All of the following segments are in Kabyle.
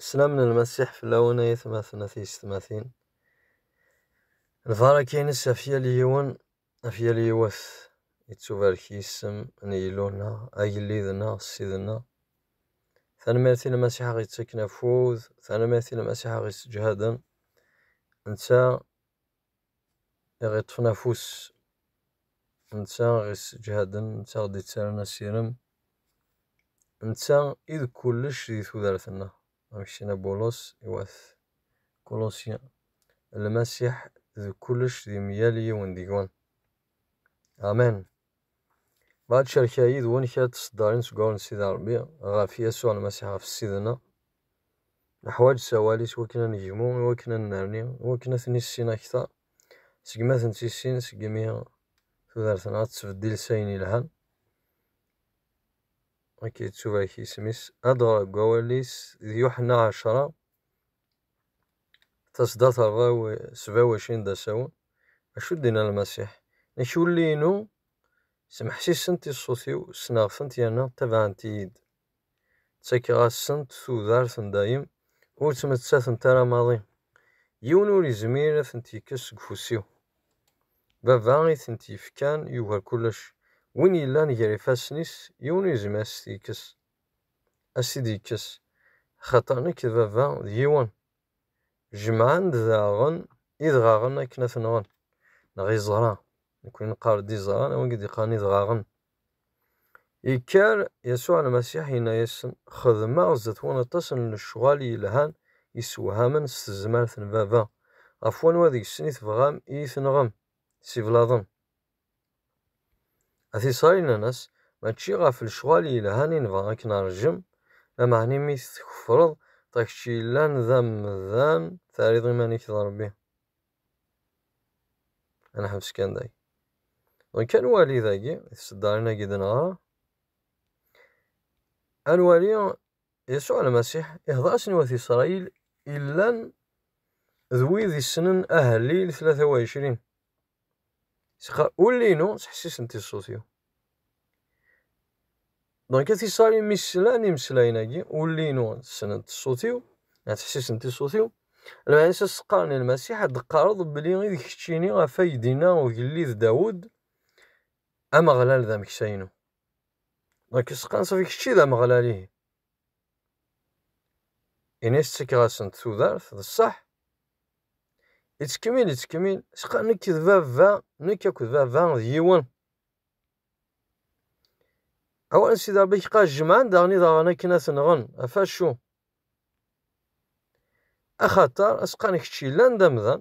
Slam n lmasiḥ fell-awen ay atmaten a tiysetmatin. Lbaraka-ines ɣef yal yiwen, ɣef yal yiwet. Yettubarek yisem n Yillu-nneɣ, agellid-nneɣ, ssid-nneɣ. Tanemmirt i lmasiḥ aɣ yettaken afud, tanemmirt i lmasiḥ aɣ yessejhaden. Netta i ɣ-iṭṭfen afus, netta i ɣ-isseǧhaden, netta i ɣ-d-ittaran asirem, netta i d kullec di tudert-nneɣ, amek s-yenna Bulos i wat Kulusyen, Lmasiḥ d kullec di myal yiwen deg-wen. Amen! Dɣa tcerka yid-wen kra n tseddarin seg ɣur n Sidi Ṛebbi ɣef Yasuɛ Lmasiḥ, ɣef Ssid-nneɣ. Neḥwaǧ ssawal-is wakken ad negmu, i wakken ad nnerni, i wakken ad ten-issin akteṛ, segmi ad ten-tissin, segmi tudert-nneɣ ad tettbeddil s ayen yelhan. Akka yettubrak yisem-is. Ad ɣreɣ deg wawal-is d Yuḥenna ɛecṛa, Tasda terra sbawacin d asawen. Acu d-inna Lmasiḥ? Nekk ulli-inu smeḥsisent i ṣṣut-iw, ssneɣ-tent yerna ttabaɛent-iyi-d. Ttakeɣ-asent tudert n dayem, ur ttmettatent ara maḍi. Yiwen ur yezmir ad tent-yekkes seg ufus-iw. Baba i tent-yefkan yugar kullec. Win yellan gar ifassen-is, yiwen ur yezmir ad s-t-yekkes. ad s-t-id-yekkes, axaṭer nekk d baba d yiwen. Jemɛen-d daɣen idɣaɣen akken ad t-nɣen, neɣ iẓra, nekkni neqqar-d iẓra, neɣ wigi d-iqqaren idɣaɣen. Yekker Yasuɛ Lmasiḥ yenna-yasen, Xedmeɣ zdat-wen aṭas n lecɣal yelhan yessewhamen s tezmert n Baba, ɣef wanwa deg-sen i tebɣam i yi-tenɣem? Siblaḍen. A t-israyen-nnes, mačči ɣef lecɣal yelhan i nebɣa ad k-neṛjem, lameɛna imi tkefṛeḍ, d kečč yellan d amdan, terriḍ iman-ik d Ṛebbi. A neḥbes kan dagi. Dɣa kan wali dagi, tiseddarin-agi d neɣra. A nwali Yasuɛ Lmasiḥ ihdeṛ-asen i wat Isṛayil illan d wid issnen ahellil tlata u ɛecrin. Sɣa ul-inu ttḥessisent i ṣṣut-iw. Donc a tisali mi slan imeslayen-agi, ul-inu ssnent ṣṣut-iw, ad ttḥessisent i ṣṣut-iw. Lmeɛna s as-qqaren i Lmasiḥ, ad d-teqqareḍ belli i d keččini ɣef ay d-inna ugellid Dawed, Ameɣlal d ameksa-inu. Donc as-qqaren safi kečči d Ameɣlal ihi. Ini tettekked-asent tudert, d ṣṣeḥ? Yettkemmil, yettkemmil, sqa nekk d baba, nekk akked baba d yiwen. Awal Sidi Rebbi qa jemɛen daɣen idaɣen akken ad ten-nɣen, ɣef acu? Axaṭer asqa n kečč yellan d amdan,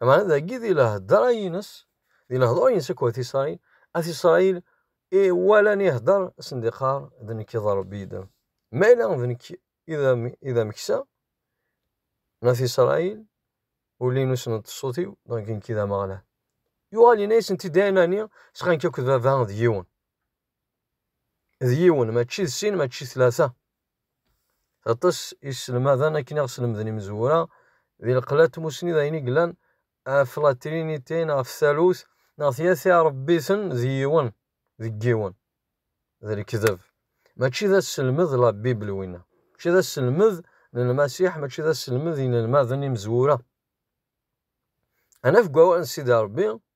Lameɛna dagi di lehedra-ines, di lehdur-ines akked At Isṛayil, At Isṛayil i walan ihedder asen-d iqqar, D nekk i d Ṛebbi i d am. Ma yella d nekk i d ameksa n At Isṛayil, ulin ur snen ṣṣut-iw, dɣa d nekk i d Ameɣlal. Yuɣal yenna-yasen-id ayen-nni, sqan-k akked baba d yiwen. d yiwen, mačči d sin, mačči d tlata. Aṭas iselmaden akken i ɣ-slemden imezwura di lqella n tmusni d ayen i yellan ɣef la Trinité neɣ ɣef talut neɣ tyata iṛebbi-ten d yiwen deg yiwen. D lekdeb. Mačči d aselmed n la Bible winna. Mačči d aselmed n Lmasiḥ, mačči d aselmed n yinelmaden imezwura. Ad naf deg wawal n Sidi Ṛebbi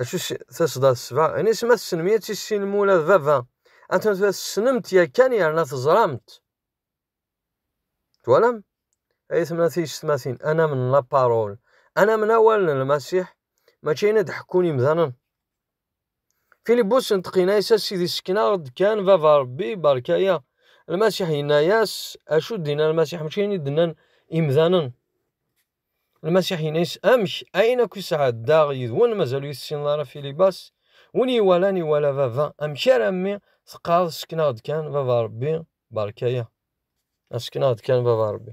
acu tasda tesba ini sma tessnem ad tissinem ula d baba anta tura tessnemt yakan yerna teẓramt twalam ay temna tiyessetmatin ana min la parole ana min awal n lmasiḥ mačči ayen ad ḥekkun imdanen Filibus inṭeq-inna-yas a sidi sken-aɣ-d kan baba Rebbi berka-ya. Lmasiḥ yenna-yas acu d-inna Lmasiḥ mačči ayen i d-nnan imdanen. Lmasiḥ yenna-yas amek ayen akk i sɛeddaɣ yid-wen mazal ur tessineḍ ara Filibas win iwalan iwala baba amek ara mmi teqqareḍ sken-aɣ-d kan baba Rebbi berka-ya. Asken-aɣ-d kan baba Rebbi.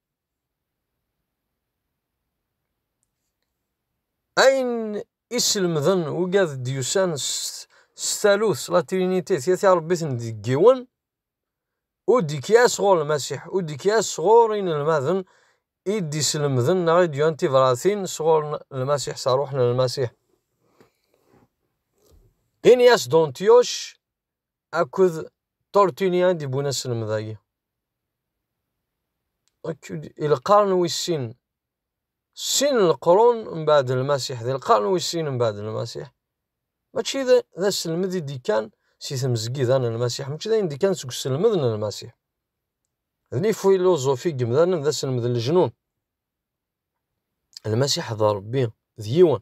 Ayen i slemden ugad d-yusan s talut, s la trinité, tya tirebbit-nni deg yiwen, ur d-ikya sɣur Lmasiḥ, ur d-ikya sɣur inelmaden i d-islemden neɣ i d-yuran tibratin sɣur Lmasiḥ, s rruḥ n Lmasiḥ. Ini-as Dontyuc akked Tortuni ay d-yewwin aselmed-agi. Akked i lqern wis sin, sin n leqrun mbeɛd Lmasiḥ, di lqern wis sin mbeɛd Lmasiḥ, mačči d aselmed i d-yekkan si tmezgida n Lmasiḥ, mačči d ayen d-yekkan seg uselmed n Lmasiḥ. D lifiluẓufi n yemdanen d aselmed n lejnun. Lmasiḥ d Ṛebbi, d yiwen.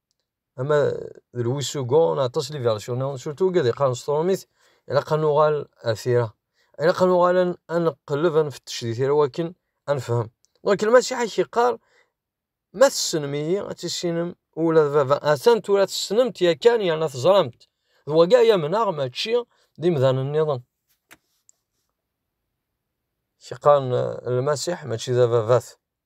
ama d Luis Hugo neɣ aṭas n yibercunen neɣ surtout wigi ad yeqqaren s tṛumit ilaq ad nuɣal ar tira ilaq ad nuɣal ad neqleb ad nfettec di tira wakken ad nefhem ɣur-k lmasiḥ ad k-yeqqar ma tessnem-iyi ad tissinem ula d baba atan tura tessnem-t yakan yerna teẓram-t d wagi ay amneɣ mačči d imdanen nniḍen s-yeqqaren lmasiḥ mačči d ababat.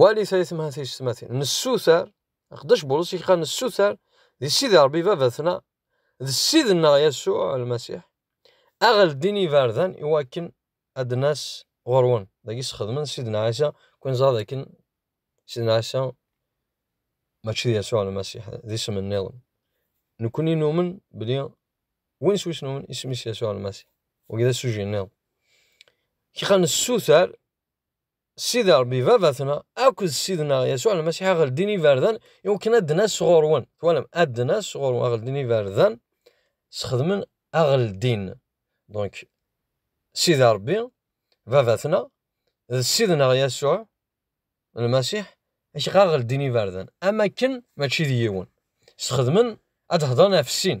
wali tayetmaha tiyesmatin nessuter aqeddac bulus yekka nessuter di sidi rebbi babatna d sidna yasuɛ almasiḥ aɣel din ibardan i wakken ad nas ɣurwen dagi sxedmen sidna ɛisa kun ẓra dakken sidna ɛisa mačči d yasuɛ almasiḥ d isem nniḍen nekkni numen bli win s wis numen isem-is yasuɛ almasiḥ wagi d asuji nniḍen kika nessuter Sidi Ṛebbi Baba-tneɣ akked Ssid-nneɣ Yasuɛ Lmasiḥ a ɣ-ldin iberdan i wakken ad d-nas ɣur-wen. Twalam? Ad d-nas ɣur-wen, a ɣ-ldin iberdan, sxedmen a ɣ-ldin. Donc, Sidi Ṛebbi Baba-tneɣ d Ssid-nneɣ Yasuɛ Lmasiḥ ak ɣ ɣ-ldin iberdan, am akken, mačči d yiwen, sxedmen ad d-hedren ɣef sin.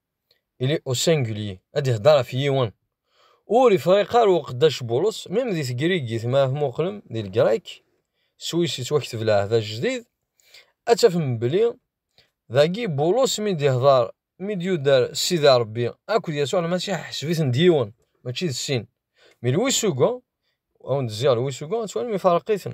il est au singulier ad ihder ɣef yiwen ur ifriq ara uqeddac Bulus mim di tegrigit ma tmuqlem di lgrek swis yettwakteb leɛhdat jdid ad tafem beli dagi Bulus mi d-ihder mi d-yuder Sidi Rebbi akked Yasuɛ Lmasiḥ ḥesbiten d yiwen mačči d sin mi lwisuga awen-d ziɣ lwisuga ad twalim ifarq-iten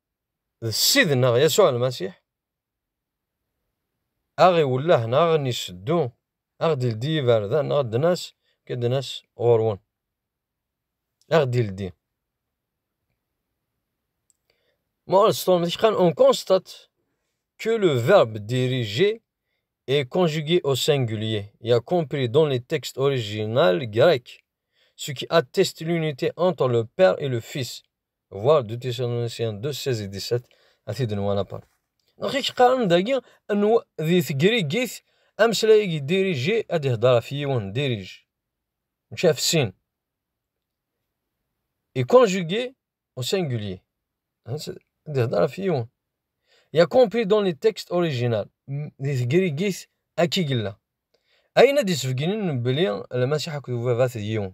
d Ssid-nneɣ Yasuɛ Lmasiḥ, a ɣ-iwelleh neɣ a ɣ-n-iseddu, a ɣ-d-ildi yiberdan neɣ ddnas, akka ddnas ɣur-wen, a ɣ-d-ildi. On constate que le verbe diriger est conjugué au singulier, y compris dans les textes originaux grecs, ce qui atteste l'unité entre le Père et le Fils. Voir deux tirs en ancien 2, 16 et 17, a t-id-nwan apar. Donc, il qqaren dagi, di tegrigit, ameslay-agi dirigé, ad ihder ɣef yiwen, dirige. Mačči ɣef sin. Et conjugué au singulier. Ad ihder ɣef yiwen. Y a compris dans les textes original. Di tegrigit, aki gilla. Ayen ad d-isbegnen belli Lmasiḥ akked ubabat d yiwen.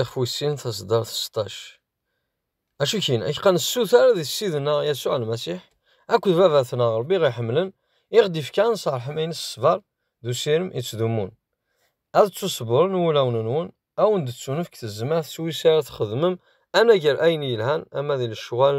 Ixf wis sin taseddart seṭṭac. Acu kin, ak qqan ssuter di Ssid-nneɣ Yasuɛ Lmasiḥ akked Baba-tneɣ Ṛebbi ɣ-iḥemmlen, i ɣ-d-ifkan s ṛṛeḥma-ines ṣṣber d usirem yettdumun. Ad ttuṣebbren wulawen-nwen, a wen-d-tettunefk tezmert s wis ara txedmem anagar ayen yelhan ama di lecɣal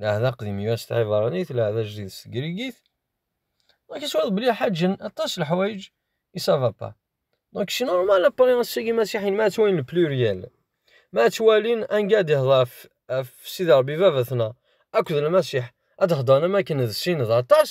Leɛhda aqdim yuan s tɛibaṛanit, leɛhda ajdid s tegrigit. Donc iswaḍ belli ḥaǧen aṭas leḥwayeǧ i savapa. Donc c'est normal après ass-agi imasiḥiyen ma ttwalin le pluriel, ma ttwalin anga ad ihdeṛ ɣef ɣef Sidi Ṛebbi baba-tneɣ akked Lmasiḥ ad heddṛen am akken d sin d aṭas.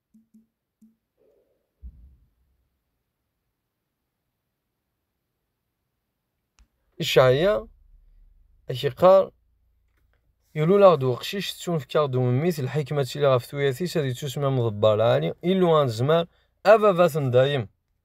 Icɛaya ak iqqar ilul-aɣ-d uqcic tettunefk-aɣ-d umemmit lḥikma ttili ɣef tuyat-is ad ittusmam ḍebbar lɛali illu anezmar a baba-ten dayem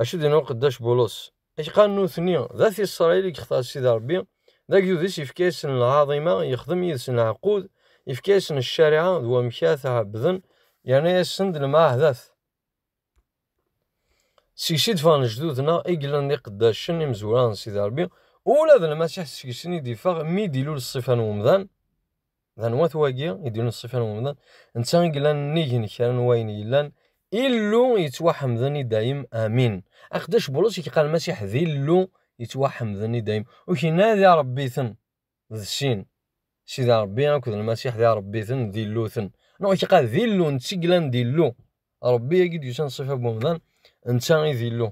Acu din uqeddac Bulus? Acqa nutni, d at Isṛayil i yextar Sidi Ṛebbi, d agdud-is yefka-yasen lɛaḍima, yexdem yid-sen lɛequd, yefka-yasen ccariɛa d wamek ad t-ɛebbden, yerna-yasen-d lemɛahdat. Seg-s i d-ffɣen lejdud-nneɣ i yellan d iqeddacen imezwura n Sidi Ṛebbi, ula d Lmasiḥ seg-sen i d-iffeɣ mi i d-ilul ṣṣifa n umdan, d anwa-t wagi i d-ilulen ṣṣifa n umdan? Netta i yellan nnig n kra n wayen yellan, Illu yettwaḥemden i dayem, amin. Aqeddac Bulus i yeqqar Lmasiḥ d Illu yettwaḥemden i dayem, ur k-inadi Ṛebbi-ten. d sin, Sidi Ṛebbi akked Lmasiḥ d Iṛebbiten, d Illuten. Neɣ iqeɛ d Illu, netta i yellan d Illu. Ṛebbi agi d-yusan ṣṣifa n umdan, netta i d Illu.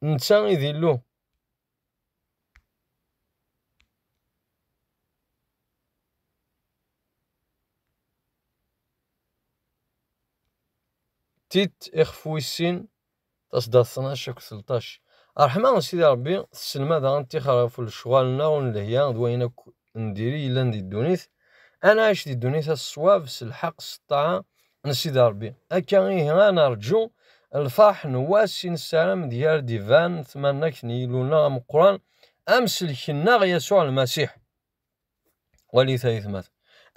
Netta i d Illu. Tit ixef wis sin. Tasdadt tnac akked telṭac. Ṛṛeḥma n Sidi Ṛebbi tesselmad ad ɣ-nettixer ɣef lecɣal-nneɣ ur nelhi d wayen akk n diri yellan di ddunit, ad nɛic di ddunit-a s ṣṣwab, s lḥeqq, s ṭṭaɛa n Sidi Ṛebbi. Akka ihi ad neṛǧu lfeṛḥ n wass i nessaram deg ara d-iban tmannagt n Yillu-nneɣ ameqqran, Amsellek-nneɣ Yasuɛ Lmasiḥ. Wali tayetmat.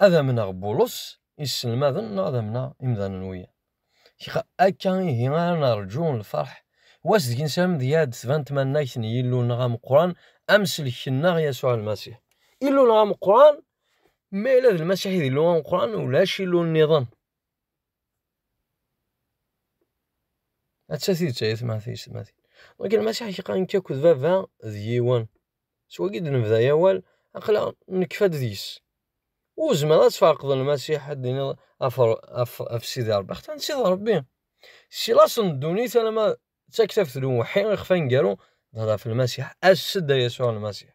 Ad amneɣ Bulus iselmaden neɣ ad amneɣ imdanen wiyaḍ? Xiq, akka ihi ara nerǧu lferḥ wass deg nessarem deg ad d-tban tmannagt n Yillu-nneɣ ameqqran, Amsellek-nneɣ Yasuɛ Lmasiḥ. Illu-nneɣ ameqqran, ma yella d Lmasiḥ i d Illu ameqqran, ulac Illu nniḍen. Atta tidet ay atmaten-is. Wagi Lmasiḥ yekka akked Baba d yiwen. S wagi i d-nebda awal, aql-aɣ nekfa deg-s. Ur tezmireḍ ad tferqeḍ Lmasiḥ, ad d-tiniḍ ɣef Sidi Ṛebbi. Axaṭer netta d Ṛebbi. Si laṣel n ddunit alamma d taktabt n uwḥi, ixef aneggaru, d ɣef Lmasiḥ. As-d a Yasuɛ Lmasiḥ!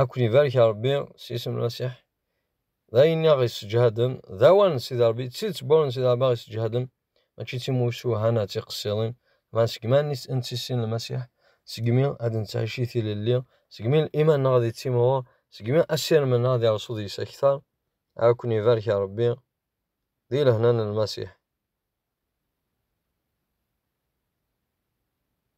Ad ken-ibarek Ṛebbi s isem n Masiḥ. D ayen i aɣ-isseǧhaden, d awan n Sidi Ṛebbi, d tidet n wawan n Sidi Ṛebbi aɣ-isseǧhaden, mačči d timucuha neɣ d tiqessiḍin, ma segmi ad nettissin Lmasiḥ, segmi ad nettɛic i tilelli, segmi liman-nneɣ ad ittimɣur, segmi asirem-nneɣ ad ireṣṣu deg-s akteṛ. Ad ken-ibarek Ṛebbi di lehna n Lmasiḥ.